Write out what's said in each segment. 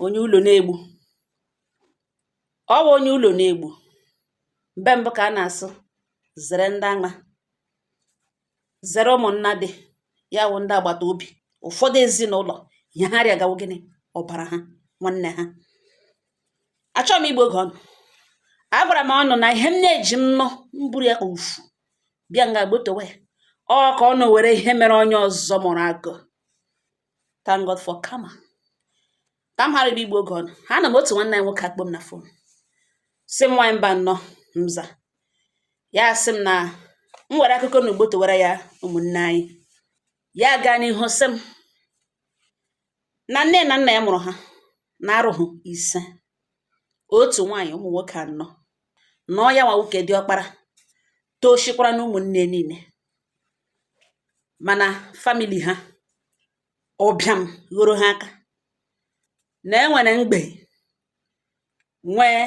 onye ụlọ na-egbu ọ bụ onye ụlọ na-egbu mgbe mbụ ka a na-asị zere ndị ama zere ụmụnna dị ya wụ ndị agbata obi ụfọdụ ezinụlọ ihe ha rịaga wụ gịnị ọbara ha nwanne ha achọghị m igbu oge unu agwara m unu na ihe m na-eji m nụ m buru ya ka ufu bịa nga gbotowe ọ ka unu were ihe mere onye ọzọ mụrụ akọ thank God for karma ka m ghara igbu oge unu anọ m otu nwanne anyị nwoke akpọ m na fon sị m nwaanyị mba nnọọ m za ya sị m na m were akụkọ na gbotowara ya ụmụnne anyị ya gaa n'ihu sị m na nne na nna ya mụrụ ha mmadụ ise otu nwaanyị ụmụ nwoke anọ na ọ ya nwa wụ nke diọkpara tọsịkwara n'ụmụnne niile mana famili ha ụbịam ghoro ha aka na e nwere mgbei nwee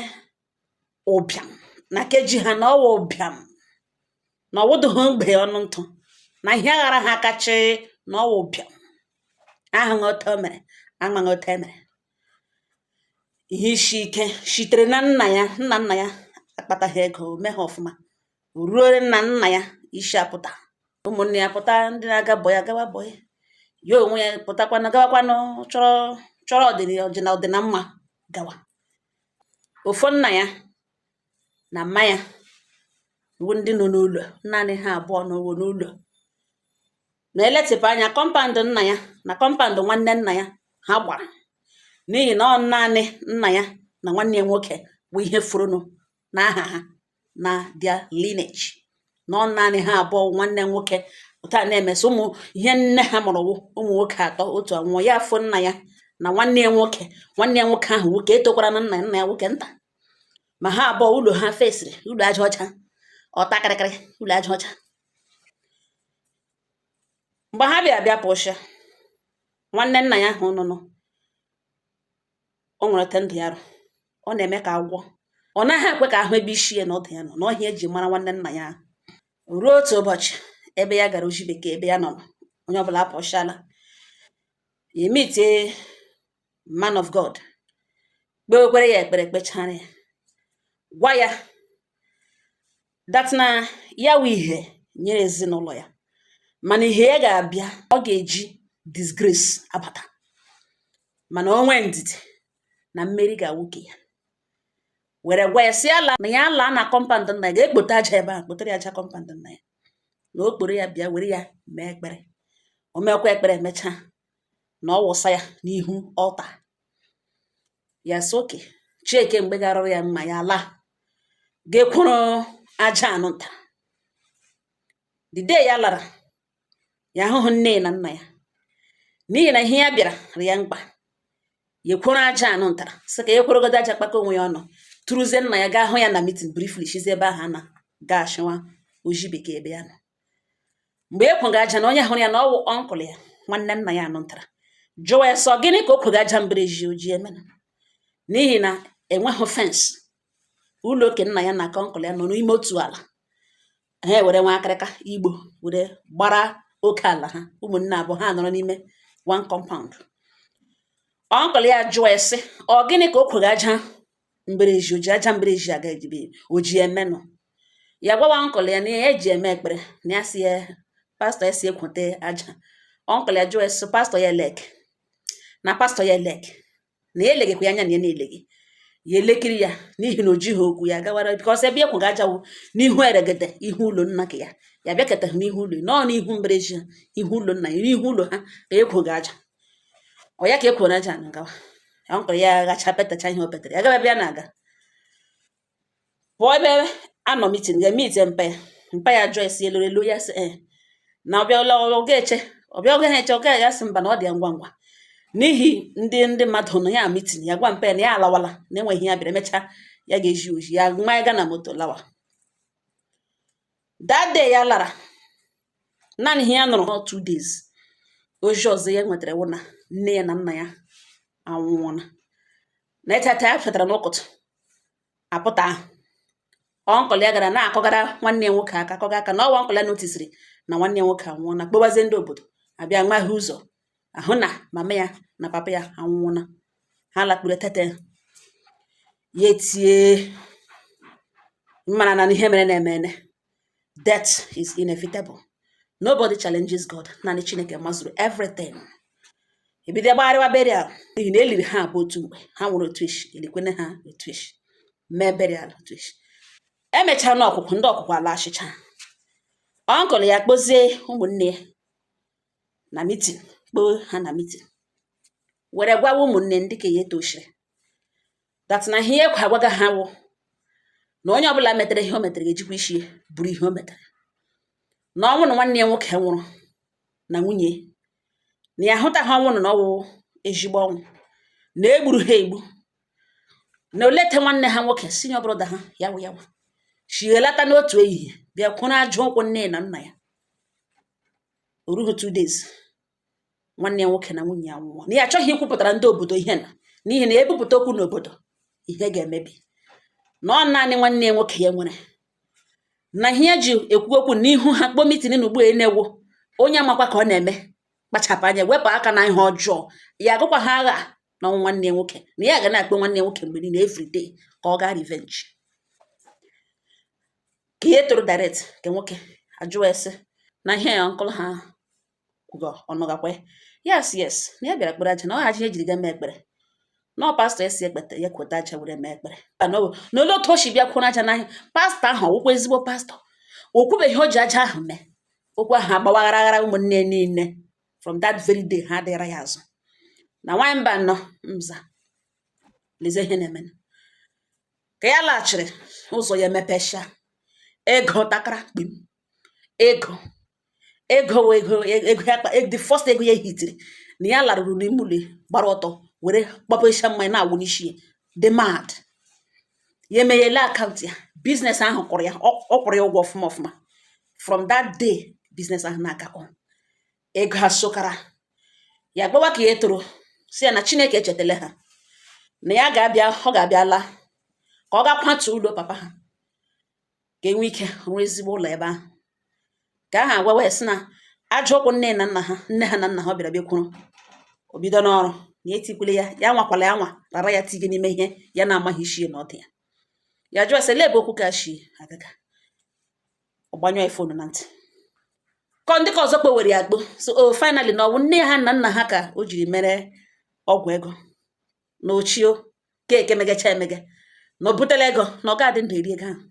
ụbịam na nke ji ha na ọ wụ ụbịam na ọ wụdịghị mgbei ọnụ ntụ na ihe aghara ha aka sị na ọ wụ ụbịam ahụghị otu o mere amaghị otu e mere ihe isi ike sitere na nna ya nna nna ya akpataghị ego o meghị ọfụma ruo na nna ya isi apụta ụmụnne ya pụta ndị na-aga bọyị agawa bọyị ya onwe ya pụtakwana gawakwanụ chọrọ ọdịna mma gawa ọ fọ nna ya na mma ya bụ ndị nọ n'ụlọ naanị ha abụọ nọwa n'ụlọ na e letịpụ anya compound nna ya na compound nwanne nna ya ha gbara n'ihi na ọ naanị nna ya na nwanne ya nwoke bụ ihe fọrọnụ n'aha ha na their lineage na ọ naanị ha abụọ nwanne nwoke otu a na-emesị ụmụ ihe nne ha mụrụ wụ ụmụ nwoke atọ otu anwụọ ya afọ nna ya na nwanne ya nwoke nwanne ya nwoke ahụ wụ nke tọkwara nna ya nna ya wụ nke nta ma ha abụọ ụlọ ha fesịrị ụlọ aja ọcha ọta kịrịkịrị ụlọ aja ọcha mgbe ha bịa bịa pụsịa nwanne nna ya ahụ nụnụ o nwere ote ndụ ya rị ọ na-eme ka agwọ ọ naghị ekwe ka a hụ ebe isi ya na ọdụ ya nọ na ọ ihe e ji mara nwanne nna ya ruo otu ụbọchị ebe ya gara ozi bekee ebe ya nọ onye ọbụla apụchala ya emite man of God kpewekwere ya ekpere kpechara ya gwa ya that na ya wụ ihe nyere ezinụlọ ya mana ihe ya ga-abịa ọ ga-eji disgrace abata mana o nwee ndidi na mmeri ga-awụ ke ya were gwa ya sị ya laa na ya laa na compound nna ya ga-ekpote aja ebe a kpotere ya aja compound nna ya na o kporo ya bịa were ya mee ekpere o meekwa ekpere emechaa na ọ wụsa ya n'ihu altar ya sị oke chieke mgbe garụrụ ya mma ya laa ga ekworo aja anụ nta the day ya lara ya ahụhụ nne na nna ya n'ihi na ihe ya bịara rị ya mkpa ya ekworo aja anụ ntara sị ka ya ekworogodo aja kpakọ onwe ya ọnụ tụrụzie nna ya gaa hụ ya na meeting briefly shizi ebe ahụ na gaa shịwa oji bekee ebe ya nọ mgbe ya kwoga aja na onye hụrụ ya na ọ wụ uncle ya nwanne nna ya anụntara jụwa ya sị ọ gịnị ka o kwoga aja mberezi o ji emena n'ihi na enweghị fence ụlọ ke nna ya na ke uncle ya nọ n'ime otu ala ha were nwa akịrịka igbo were gbara oke ala ha ụmụnne abụọ ha nọrọ n'ime one compound uncle ya jụọ ya sị ọ gịnị ka o kwoga aja mberezi o ji aja mberezi aga ejibe o ji emenụ ya gwawa uncle ya na ya eji eme ekpere na ya sị ya pastor ya sị ya kwote aja uncle ya jụọ sị pastor ya elee ke na pastor ya elee ke na ya elegekwa ya anya na ya na-elegi ya elekiri ya n'ihi na o jighị okwu ya gawara because ebe ya kwoga aja wụ n'ihu eregede ihu ụlọ nna ke ya ya bịakọtaghị n'ihu ụlọ nọọ n'ihu mberezi ha ihu ụlọ nna ya n'ihu ụlọ ha ka ya kwoga aja ọ ya ka ya kworo aja na-agawa uncle ya ghacha petacha ihe o petere ya gaba ebe ya na-aga pụọ ebe a nọ meeting ga meet mpa ya mpa ya jụọ ya sị elu elu ya sị ee na ọ bịa ụlọ ọ ga-eche ọ bịa ọ gaghị eche ọ gaghị ya sị mba na ọ dị ya ngwa ngwa n'ihi ndị ndị mmadụ nọ ya meeting ya gwa mpa ya na ya alawala na enweghị ya bịara emechaa ya ga-eji oji ya ma ya ga na moto lawa that day ya lara naanị ihe ya nọrọ ha two days ozi ọzọ ya nwetara wụ na nne ya na nna ya anwụọna na ịtata ya fetara n'ụtụtụ apụtahụ uncle ya gara na-akụgara nwanne ya nwoke aka akụga aka na ọ wụ uncle ya notisiri na nwanne ya nwoke anwụọna kpọbazie ndị obodo abịa waghee ụzọ ahụ na mama ya na papa ya anwụọna ha lakpuru tete ya etie mara na ihe merenụ emene death is inevitable nobody challenges God naanị Chineke mazuru everything e bido gbagharịwa burial n'ihi na e liri ha abụọ otu mgbe ha nwụrụ otu isi e likwene ha otu isi mee burial otu isi emechara na ọkwụkwụ ndị ọkwụkwụ alashịcha uncle ya kpozie ụmụnne ya na mitin kpọọ ha na mitin were gwawa ụmụnne ndị ka ya tochiri that na ihe ekwe agwaga ha wụ na onye ọbụla metere ihe o metere ga-ejikwa isi buru ihe o metere na ọnwụ na nwanne ya nwoke nwụrụ na nwunye na ya ahụtaghị ọnwụ ahụ na ọ wụ ezigbo ọnwụ na e gburu ha egbu na olee etu nwanne ha nwoke senior brother ha ya wụ ya wụ shi lata n'otu ehihie bịa kwụrụ aja ụkwụ nne na nna ya o rughị two days nwanne ya nwoke na nwunye ya nwụọ na ya achọghị ikwupụtara ndị obodo ihe na n'ihi na e bupụta okwu n'obodo ihe ga-emebi na ọ naanị nwanne ya nwoke ya nwere na ihe ya ji ekwu okwu n'ihu ha kpọọ mitin na ugbu a na-ewu onye amakwa ka ọ na-eme kpachapụ anya wepụ aka na ihe ọjọọ ya agụkwa ha agha na ọnwụ nwanne ya nwoke na ya ga na-akpọ nwanne ya nwoke mgbe niile every day ka ọ gaa revenge ka ya toro direct nke nwoke ajụọ ya sị na ihe a nke ụlọ ha kwuga ọ nụgakwa ya ya sị yes na ya bịara kpere aja na ọ aja ya jiri ga mee ekpere na ọ pastọ ya sị ya kpete ya kweta aja were mee ekpere na olee otu o si bịa kwụrụ aja n'ahịa pastọ ahụ ọ wụkwa ezigbo pastọ o kwubeghị ihe o ji aja ahụ mee okwu ahụ agbawaghara aghara ụmụnne niile from that very day ha adịghara ya azụ na nwanyị mba nọ mza leze ihe na-eme ka ya laghachiri ụzọ ya emepecha ego takara kpim ego ego the first ego ya hitiri na ya laruru n'ime ụlọ gbara ọtọ were gbapecha mmanya na-awụ n'isi ya dị mad ya emeghele akaụntụ ya biznes ahụ kwụrụ ya ọ ọ kwụrụ ya ụgwọ ọfụma ọfụma from that day biznes ahụ na-aga on ego asokara ya gbawa ka ya toro sị ya na chineke echetele ha na ya ga-abịa ọ ga-abịa laa ka ọ ga kwatu ụlọ papa ha ka e nwee ike rụọ ezigbo ụlọ ebe ahụ ka ahụ agwawa ya sị na aja ụkwụ nne na nna ha nne ha na nna ha ọ bịara bịa kwụrụ o bidona ọrụ na etikwule ya ya anwakwala ya anwa rara ya tige n'ime ihe ya na-amaghị isi na ọdụ ya ya jụọ sị lee ebe okwu ka shi agaga ọ gbanyụọ ya fonu na ntị ka ndị ka ọzọ kpowere ya gbo so o oh, finally na ọ wụ nne ha na nna ha ka o jiri mere ọgwụ ego na o chee keke megacha emega na o butela ego na ọ ga-adị ndụ eri ego ahụ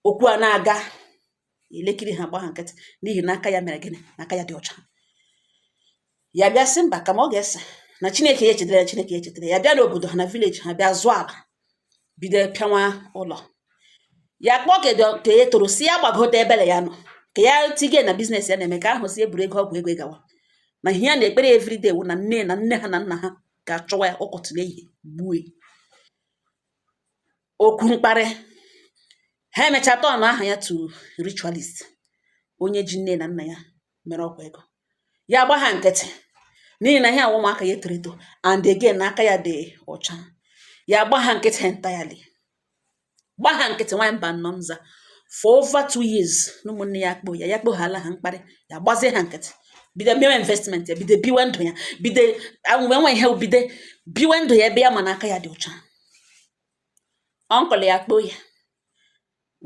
okwu a na-aga elekiri ha gba ha nkịtị n'ihi na aka ya mere gịnị na aka ya dị ọcha ya bịa sị mba kama ọ ga-ese na chineke ya echetara ya chineke ya echetara ya bịa n'obodo ha na village ha bịa zụọ ala bido pịawa ụlọ ya kpọọ ka ya toro sị ya gbagote ebele ya nọ ka ya tige na biznes ya na-eme ka ahụ sị ya buru ego ọgwụ ego gawa na ihe ya na-ekpere everyday wụ na nne na nne ha na nna ha ga-achọwa ya ọkọtụ n'ehihie gbue okwu mkparị ha emecha turn aha ya to ritualist onye ji nne na nna ya mere ọgwụ ego ya gba ha nkịtị n'ihi na ihe a wụ ụmụaka ya toro eto and again na aka ya dị ọcha ya gba ha nkịtị entirely gba ha nkịtị nwaanyị mba nnọ nza for over two years na ụmụnne ya akpọ ya ya akpọghala ha mkparị ya gbazie ha nkịtị bido mewe investment ya bido biwe ndụ ya bido nwewe ihe bido biwe ndụ ya ebe ya ma na aka ya dị ọcha uncle ya kpọọ ya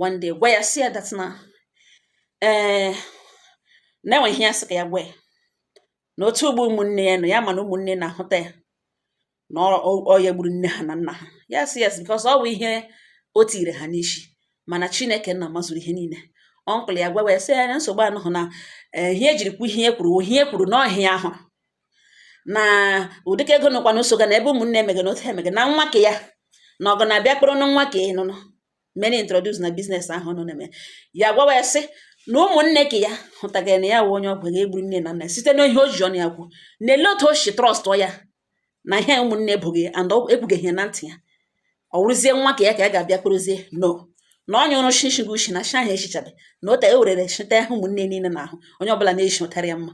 one day gwa ya sị ya that na ee eh, na e nwe ihe ya sị ka ya gwa ya na otu ụgbọ ụmụnne ya nọ ya ma na ụmụnne na-ahụta ya na ọ ya gburu nne ha na nna ha ya sị yes because ọ bụ ihe o tiiri ha n'isi mana chineke nna mazuru ihe niile uncle ya gwa ya sị ya na nsogbu anọhụ na eh, ihe e jiri kwu ihe e kwuru ihe e kwuru na ọhịa ahụ na ọ dị ka ego nọkwa n'ụso ga na ebe ụmụnne emege na otu emege na nwa ka ya na ọgụ na-abịa kpọrọ na nwa ka ị nụnụ many introduce na business ahụ nọ na-eme ya gwawa ya sị na ụmụnne ka ya hụtagara na ya wụ onye ọgwụ ego gburu nne na nna site n'ihe o ji ọnụ ya kwuo na ele otu o si trust ya na ihe ụmụnne ebughị and ekwugeghị na ntị ya ọ wụrụzie nwa ka ya ka ya ga-abịa kpụrụzie no na ọ nyụrụ shishi gị ushi na shi ahụ echichabe na o ewere werere shita ahụ ụmụnne niile na ahụ onye ọbụla na-eshi ụtarị ya mma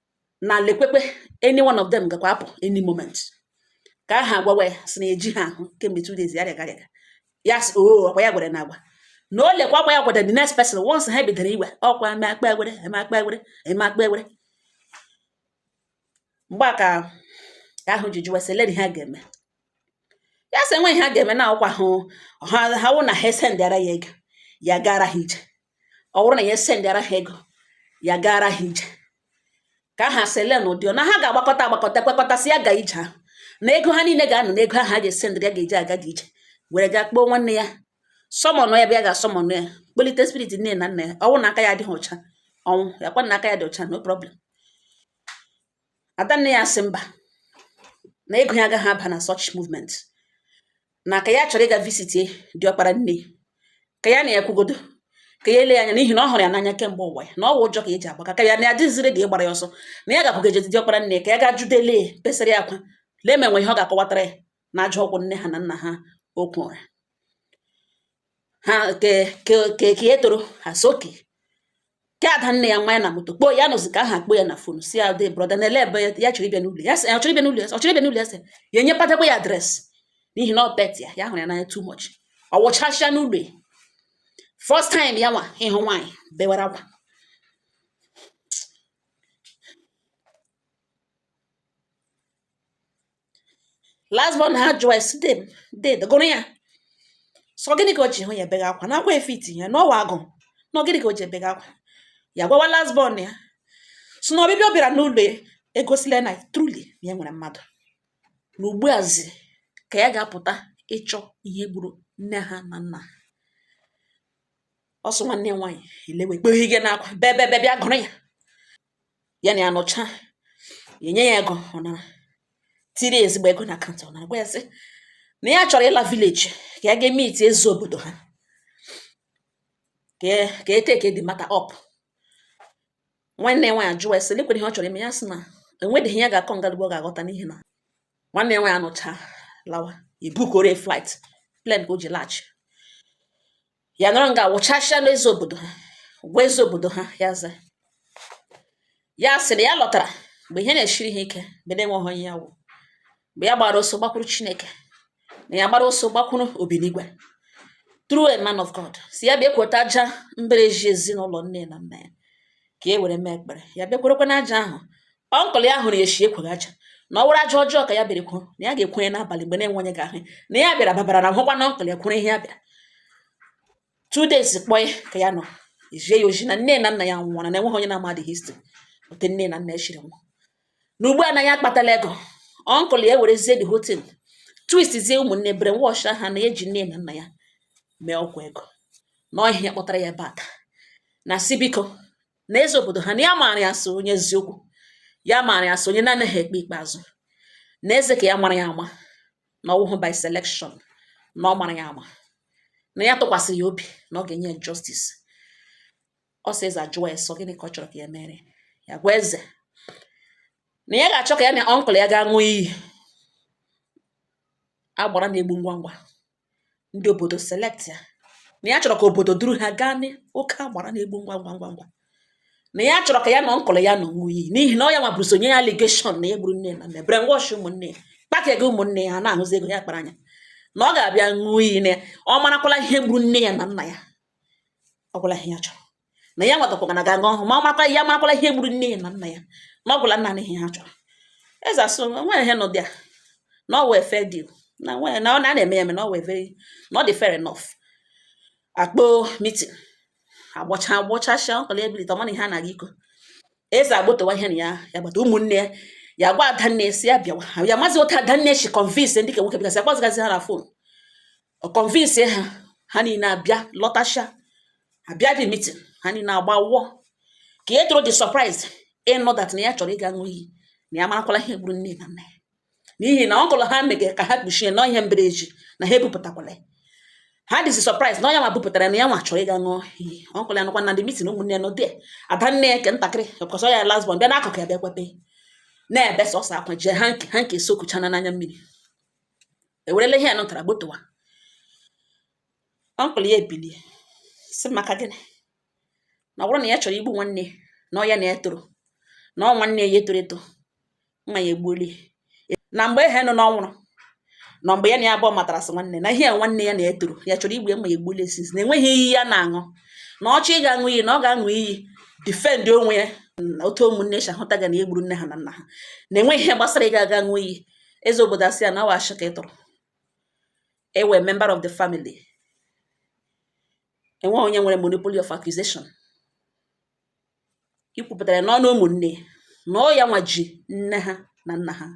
na lekwekwe any one of them gakwa apụ any moment ka aha agwawa ya si na eji ha ahụ kemgbe two days ya rịaga rịaga ya sị oo oh, ọ kwa ya gwere na agwa na o lekwa akwa ya gwara the next person once ha bidoro igwe ọkwa eme akpa egwere eme akpa egwere eme akpa egwere mgbe a ka ahụ ji jụwa sị lee ihe ha ga-eme ya sị e nweghị ha ga-eme na ọkwa hụ ha wụ na ha esendịara ya ego ya gara ha ije ọ wụrụ na ya esendịara ha ego ya gaara ha ije ka aha sị lee n'ụdị na ha ga-agbakọta agbakọta kwekọtasị ya ga ije ahụ na ego ha niile ga-anọ n'ego ahụ a ga-esendịrị ya ga-eji aga gị ije were gaa kpọọ nwanne ya summon ya bịa ga-asummon ya kpọlite spirit nne na nna ya ọ wụ na aka ya adịghị ọcha ọ nwụọ ya kwa na aka ya dị ọcha no problem ada nne ya sị mba na ego ya agaghị aba na such movement na ka ya chọrọ ịga visitie diọkpara nne ka ya na ya kwugodo ka ya ele ya anya n'ihi na ọ hụrụ ya n'anya kemgbe ụwa ya na ọ wụ ụjọ ka e ji agbaka ka ya na ya dịzi ready ịgbara ya ọsọ na ya gakwugeje diọkpara nne ka ya ga judele besara ya akwa lee ma e nwe ihe ọ ga-akọwatara ya na ajọ okwu nne ha na nna ha kwuru ha ke ke ke ka ya toro ha so ke ada nne ya nwa ya na moto kpọọ ya nọzi ka aha kpọọ ya na phone sị ya dee brother na ele ebe ya ya chọrọ ịbịa n'ụlọ ya sị ya ọ chọrọ ịbịa n'ụlọ ya sị, ọ chọrọ ịbịa n'ụlọ ya sị ya enyepụtakwa ya address n'ihi na ọ pet ya ya hụrụ ya n'anya too much ọ wụchasịa n'ụlọ ya first time ya nwa ịhụ nwaanyị bewara akwa last born ha jụwa sị dee m dede gụrụ ya sị ọ gịnị ka o ji hụ ya ebega akwa na akwa efiti ya na ọ wụ agụ na gịnị ka o ji ebega akwa ya gwawa last born ya sị na ọbịbịa ọ bịara n'ụlọ ya egosila na truly na ya nwere mmadụ na ugbuazi ka ya ga-apụta ịchọ ihe gburu nne ha na nna ha ọsọ nwanne ya nwaanyị elewe kpeghị gị n'akwa bebebe bịa gụrụ ya ya na ya nọcha ya nye ya ego ọ nara tiri ezigbo ego na account ọ nara gwa ya sị na ya chọrọ ịla village ka ya gaa meet eze obodo ha ka e take the matter up nwanne ya nwaanyị jụwa sị lekwere ihe ọ chọrọ ime ya sị na enweghị ihe ya ga-akọ ngalugbo ọ ga-aghọta n'ihi na nwanne ya nwaanyị anụcha lawa e bookoro flight plane ka o ji laghachi ya nọrọ nga wụchasịa n'eze obodo ha gwa eze obodo ha ya za ya sị na ya lotara mgbe ihe na-esiri ha ike mgbe na-enweghị onye ya wụ mgbe ya gbara ọsọ gbakwuru chineke na ya gbara ọsọ gbakwuru obinigwe through a man of God sị ya bịa kwota aja mbara ezi ezinụlọ nne na nna ya ka e were mee ekpere ya bịa kworokwa na aja ahụ uncle ya hụrụ ya echi ekweghị aja na ọ wụrụ aja ọjọọ ka ya bịara kwuo na ya ga-ekwenye n'abalị mgbe na-enweghị onye ga-ahụ na ya bịara babara na hụkwa na uncle ya kwuru ihe ya bịara two days kpọọ ya ka ya nọ ejie ya oji na nne na nna ya nwụwara na enweghị onye na-amadị history otu nne na nna ya shiri nwụọ na ugbu a na ya akpatala ego uncle ya ewerezie the whole thing twistzie ụmụnne brainwash ha na e ji nne na nna ya mee ọgwụ ego na ọ ihe a kpọtara ya bata na sị biko na eze obodo ha na ya maara ya sị ọ onye eziokwu ya maara ya sị ọ onye na-anaghị ekpe ikpe azụ na eze ka ya mara ya ama na ọ wụhụ by selection na ọ mara ya ama na ya tụkwasịrị ya obi na ọ ga-enye ya justice ọ sị eze ajụọ ya sị ọ gịnị ka ọ chọrọ ka ya mere ya gwa eze na ya ga-achọ ka ya na uncle ya gaa ṅụọ iyi agbara na-egbu ngwa ngwa ndị obodo select ya na ya chọrọ ka obodo duru ha gaa n'oke agbara na-egbu ngwa ngwa ngwa ngwa na ya chọrọ ka ya na uncle ya nọ ṅụọ iyi n'ihi na ọ ya nwa buru ụzọ nye ya allegation na ya gburu nne na nna brainwash ụmụnne ya kpaka gị ụmụnne ya na-ahụzi ego ya kpara anya na ọ ga-abịa ṅụọ iyi na ya ọ marakwala ihe gburu nne ya na nna ya ọ gwụla ihe ya chọrọ na ya nwatakwa na ga-aṅụ ọhụụ ma ọ makwa ya marakwala ihe gburu nne ya na nna ya na ọ gwụla nna na ihe ha chọrọ eze asị nwere ihe nọ dị a na ọ wụ a fair deal na nwere na ọ na na-eme ya eme na ọ wụ a very na ọ dị fair enough akpọọ meeting agbacha agbachasha uncle ya ebilite ọ ma na ihe a na-aga iko eze agbotowa ihe na ya ya gbata ụmụnne ya ya gwa adanne sị ya bịawa ya mazi otu adanne si convince ndị ka nwoke bịgasị akpọzigazi ha na phone ọ convince ha ha niile abịa lọtasha abịa the meeting ha niile agba wụọ ka ihe tụrụ dị surprise ịnụ that na ya chọrọ ịga ṅụọ iyi na ya marakwala ihe gburu nne na nna ya n'ihi na uncle ha mege ka ha kpuchie na ọ ihe mbereji na ha ebupụtakwala ya ha dịzi surprise na ọ ya nwa bupụtara na ya nwa chọrọ ịga ṅụọ iyi uncle ya nọkwa na the meeting ụmụnne nọ dị ada nne ya nke ntakịrị ọkọsọ ya last born bịa n'akụkụ ya bịa kwebe na-ebe sọsọ akwa jee ha nke ha nke sokuchana n'anya mmiri ewerela ihe a nụtara gbotowa uncle ya ebilie si maka gịnị na ọ bụrụ na ya chọrọ igbu nwanne na ọ ya na ya toro na ọ nwanne ya toro eto ma ya egbuolie na mgbe ehe nọ n'ọnwụrụ na mgbe ya na ya abụọ matara sị nwanne na ihe ya nwanne ya na-etoro ya chọrọ igbu ya ma ya egbuolie since na enweghị iyi ya na-aṅụ na ọ chọọ ịga aṅụ iyi na ọ ga-aṅụ iyi defend onwe ya na otu ụmụnne si ahụtaga na e gburu nne ha na nna ha na enweghị ihe gbasara ị ga-aga ṅụọ iyi eze obodo asị ya na ọ wụ ashị ka ị tụrụ ị wụ member of the family enweghị onye nwere monopoly of accusation i kwupụtara n'ọnụ ụmụnne na ọ ya nwa ji nne ha na nna ha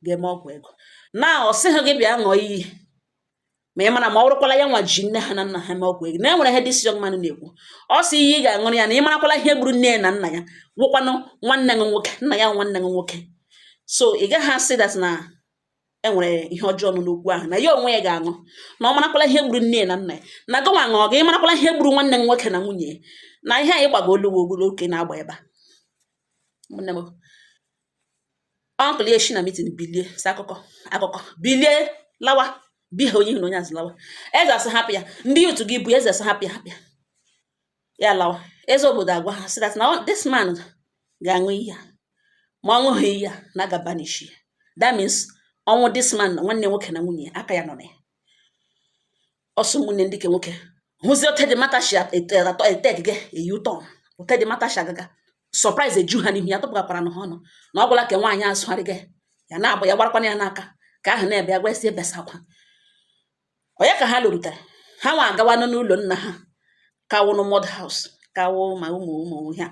ga-eme ọgwụ ego na ọ sịghị gị bịa ṅụọ iyi ma ị mara ma ọ bụrụkwala ya nwa ji nne ha na nna ha mee ọgwụ ego na e nwere ihe this young man na-ekwu ọ sị iyi ị ga-aṅụrụ ya na ị marakwala ihe gburu nne ya na nna ya wụkwanụ nwanne gị nwoke nna ya nwanne gị nwoke so ị gaghị asị that na e nwere ihe ọjọọ nọ n'okwu ahụ na ya onwe ya ga-aṅụ na ọ marakwala ihe gburu nne ya na nna ya na gịnwa ṅụọ gị ị marakwala ihe gburu nwanne gị nwoke na nwunye ya na ihe anyị gbago olu oke na-agba ebe a uncle ya shi na meeting bilie si akụkọ akụkọ bilie lawa bihe onye ihu na onye azụ lawa eze asị hapụ ya ndị otu gị bụ eze asị hapụ ya hapụ ya ya lawa eze obodo agwa ha sị that na this man ga-aṅụ iyi a ma ọ ṅụghị iyi a na a ga-banish ya that means ọnwụ this man na nwanne nwoke na nwunye aka ya nọ na ya so ụmụnne ndị ke nwoke hụzie otu the matter shi atọ eted gị eyi ụtọ otu the matter shi agaga surprise eju ha n'ihu ya tụpụgakwara na ha ọnụ na ọ gwụla ka nwaanyị azụgharị gị ya na-agba ya gbarakwana ya n'aka ka ahụ na-ebe ya gwasị ebesa akwa onye ka ha lụrutere ha nwa agawanụ n'ụlọ nna ha ka wụnụ mud house kawo ma ụmụ ụmụ ha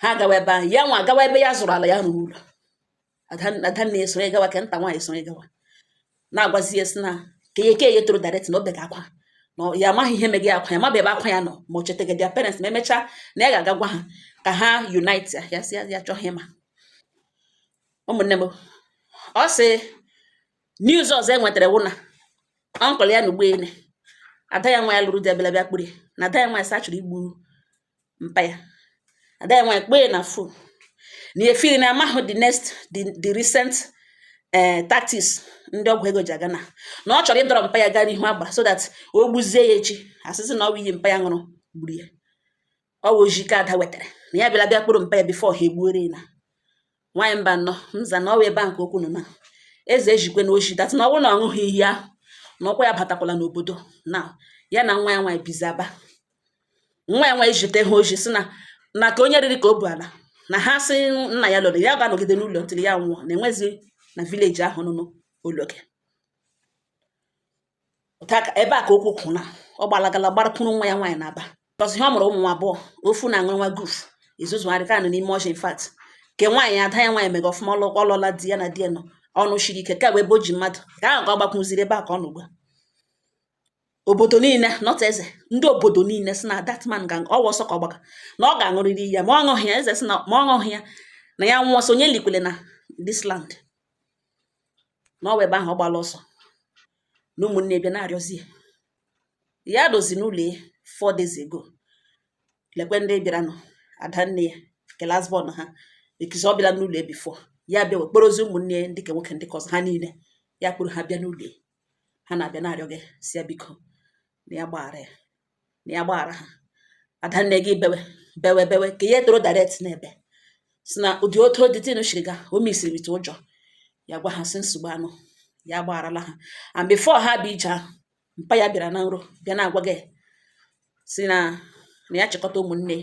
ha gawa ebe ahụ ya nwa agawa ebe ya zụrụ ala ya rụrụ ụlọ adanna esonye gawa ke nta nwaanyị sonye gawa na-agwazi ya si na ka ihe ke toro direct na o bega akwa na ya amaghị ihe mega akwa ya mabe ebe akwa ya nọ ma ọ chetaga their parents ma emechaa na ya ga-aga gwa ha ka ha unite ya ya si ya chọghị ịma ụmụnne m ọ sị news ọzọ e nwetara wụ na uncle ya na ugboele ada ya nwa ya lụrụ di abịala bịa kpụrụ na ada ya nwa ya sa chọrọ igbu mpa ya ada ya nwaanyị kpee na phone na ya feel na amahụ the next the, the recent uh, tactics ndị ọgwụ ego ji aga na na ọ chọrọ ịdọrọ mpa ya gaa n'ihu agbara so that o gbuzie ya echi a sị sị na ọ bụ iyi mpa ya ṅụrụ gburu ya ọ bụ ozi ka ada wetara na ya bịara bịa kpọrọ mpa ya before ha egbuore na nwaanyị mba nọ mza na ọ wụ ebe a nke okwu nọ na eze ezikwe na ozi that na ọ bụrụ na ọ ṅụghị iyi ahụ na ụkwụ ya abatakwala n'obodo na ya na nwa ya nwaanyị bizi aba nwa ya nwaanyị zite ha ozi si na na ka onye riri ka o bu ala na ha sị nna ya lụrụ ya ga-anọgide n'ụlọ until ya nwụọ na enwezi na village ahụ nụnụ ologe ebe a ka okwu kwụ na ọ gbalagala gbarakwuru nwa ya nwaanyị n'aba ọzọ ihe ọ mụrụ ụmụ nwa abụọ ofu na-aṅụ nwa guf ezuzugharị ka nọ n'ime ọchị in fact nke nwaanyị ada ya nwaanyị mega ọfụma ọ lụọla di ya na di ya nọ ọ nọ shiri ike ka ebe o ji mmadụ ka ahụ ka ọ gbakwụziri ebe a ka ọ nọ ugbu a obodo niile not eze ndị obodo niile si na that man ọ wụ ọsọ ka ọ gbaga na ọ ga-aṅụrịrị ya ma ọ ṅụghị ya eze si na ma ọ ṅụghị ya na ya nwụọ so onye likwele na this land na ọ wụ ebe ahụ ọ gbala ọsọ na ụmụnne bịa na-arịọzi ya ya dozi n'ụlọ ya four days ago lekwe ndị bịaranụ ada nne ya ke last born ha ekizi ọ bịara n'ụlọ ya before ya bịa wee kpọrọzi ụmụnne ya ndị ke nwoke ndị ke ọzọ ha niile ya kpọrọ ha bịa n'ụlọ ya ha na-abịa na-arịọ gị si ya biko na ya gbaghara ya na ya gbaghara ha adanne gị bewe bewe bewe ke ya tọrọ direct na-ebe si na ụdị otu the thing shiri gaa o mesiri mite ụjọ ya gwa ha si nsogbu anụ ya gbagharala ha and before ha abịa ije ahụ mpa ya bịara na nro bịa na-agwa gị si na na ya chịkọta ụmụnne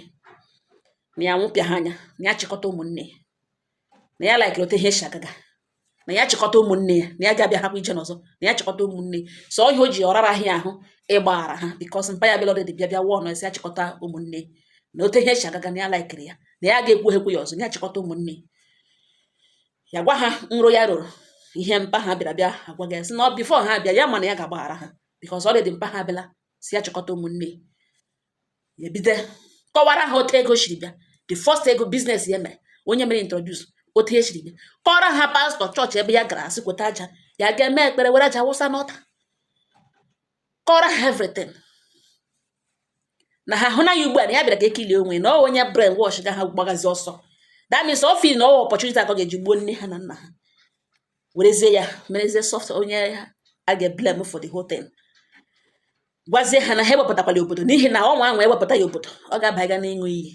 na ya wepụla ha anya na ya chịkọta ụmụnne na ya laikiri otu ihe si agaga na ya chịkọta ụmụnne ya na ya ga-abịa hapụ ije n'ọzọ na ya chịkọta ụmụnne so ihe o ji ọ raraghị ya ahụ ịgbaghara ha because mpa ya bịala already bịa bịa wọnụọ sị ya chịkọta ụmụnne na otu ihe si agaga na ya laikiri ya na ya ga-ekwu ekwu ya ọzọ na ya chịkọta ụmụnne ya gwa ha nro ya rọrọ ihe mpa ha bịara bịa agwa gị sị na ọ before ha bịa ya mana ya ga-agbaghara ha because already mpa ha bịala si ya chịkọta ụmụnne ebido kọwara ha otu ego siri bịa the first ego business ya mere onye mere introduce otu e siri bịa kọrọ ha pastọ chọọchị ebe ya gara a sị weta aja ya ga-eme ekpere were aja wụsa n'altar kọrọ ha everything na ha hụ na ya ugbu a na ya bịara ka e clear onwe na ọ onye brain wash ga ha gbagazi ọsọ that means ọ feel na ọ opportunity ka ọ ga-eji gbuo nne ha na nna ha werezie ya merezie soft onye a ga-eblame for the whole thing gwazie ha na ha ewepụtakwala obodo n'ihi na ọnwa ahụ ewepụta ya obodo ọ ga-abaga n'ịṅụ iyi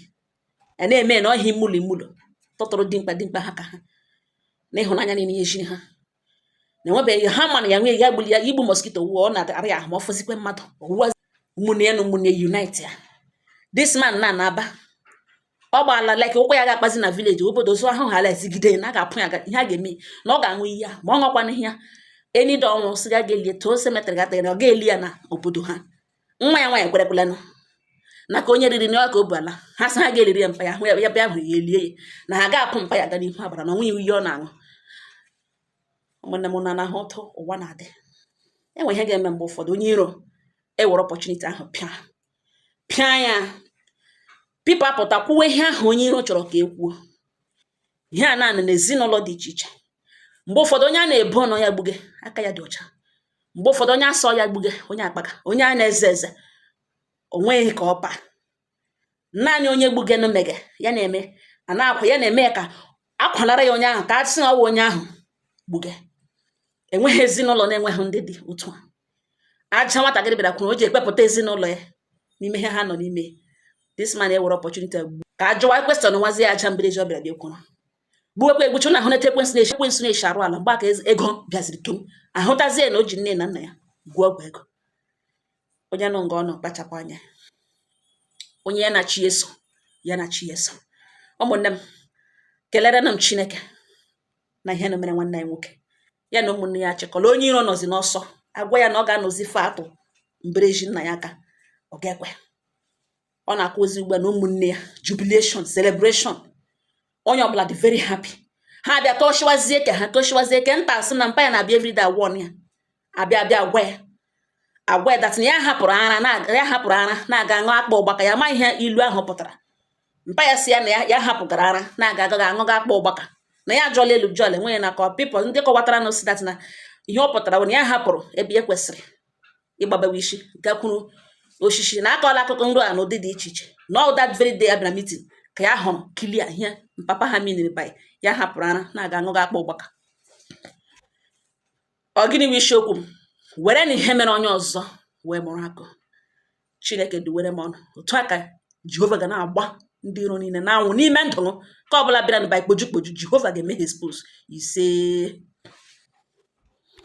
a na-eme na ọhịa imulu imulu tụtụrụ dimkpa dimkpa ha ka ha na ịhụnanya niile ya ejiri ha na enwebeghị ha mana ya nwee ya gbuli ya igbu mosquito wuo ọ na-ara ya ahụ ma ọ fọzikwe mmadụ ọwụwa ụmụnne na ụmụnne unite ya this man na na-aba ọ gbaala like ụkwụ ya ga-akpazi na village obodo so ahụ hala ezigide na a ga-apụ ya ihe a ga-eme na ọ ga-aṅụ iyi ya ma ọ ṅụkwana iyi ya any day ọ nwụ sị ga ga-elie too cemetery gatara na ọ ga-eli ya na obodo ha nwa ya nwaanyị kwerekwelanụ na ka onye riri n'ọka o ala ha sị ha ga-eliri ya mpa ya hụ ya bịa hụrụ ya elie ya na ha ga-apụ mpa ya ga n'ihu abara na ịṅụ iyi ọ na-aṅụ ụmụnne m na-ahụ otu ụwa na-adị e nwe ihe ga-eme mgbe ụfọdụ onye iro ewere opportunity ahụ pịa pịa ya people apụta kwuwe ihe ahụ onye iro chọrọ ka e kwuo ihe a na-anụ n'ezinụlọ dị iche iche mgbe ụfọdụ onye a na-ebo na ọ ya gbuge aka ya dị ọcha mgbe ụfọdụ onye a sị ọ ya gbuge onye akpaga onye a na-eze eze o nweghị ka ọ paa naanị onye gbugenụ mege ya na-eme a na-akwa ya na-eme ka akwalara ya onye ahụ ka a sị na ọ wụ onye ahụ gbuge enweghị ezinụlọ na-enweghị ndị dị otu a aja nwatakịrị bịara kwuru o ji ekpepụta ezinụlọ ya n'ime ihe ha nọ n'ime this man ewere opportunity gbu ka a jụwa question nwazi ya aja mbiri ji ọ bịara bịa kwuru gbuwekwa egbuchu unu ahụna etu ekwensu na-eshi ekwensu na-eshi arụ ala mgbe aka ego bịaziri tum ahụtazie na o ji nne na nna ya gwuo ọgwụ ego onye nọ nga ọ nọ kpachapụ anya onye ya na chi eso ya na chi eso ụmụnne m kelerenụ m chineke na ihe na mere nwanne anyị nwoke ya na ụmụnne ya chịkọrọ onye iro nọzi n'ụsọ agwa ya na ọ ga-anọzi fe atụ mbereji nna ya aka ọ ga-ekwe ọ na-akụ ozi ugbu a na ụmụnne ya jubilation celebration onye ọbụla dị very happy ha bịa tọchiwazie ke ha tọchiwazie ke nta asị na mpa ya na-abịa everyday agwa ya abịa abịa gwa ya agwa ya that na ya hapụrụ ara na ya hapụrụ ara na-aga ṅụ akpa ụgbaka ya ma ihe ilu ahụ pụtara mpa ya sị ya na ya ya hapụgara ara na-aga aga aṅụga akpa ụgbaka na ya ajụọla elu jụọ ala enweghị na kọ people ndị kọwatara na ọ sị that na ihe ọ pụtara bụ na ya hapụrụ ebe e kwesịrị ịgbabewe isi gakwuru osisi na akọọla akụkọ nrọ a n'ụdị dị iche iche na on that very day abịara meeting ka ya hụrụ clear ihe papa ha meaniri by ya hapụrụ ara na-aga aṅụga akpa ụgbaka ọ gịnị bụ isiokwu m were na ihe mere onye ọzọ wee mụrụ akọ chineke duwere m unu otu a ka jehova ga na-agba ndị iro niile n'anwụ n'ime ndụ unu ke ọ bụla bịara na by kpoju kpoju jehova ga-eme ha expose isee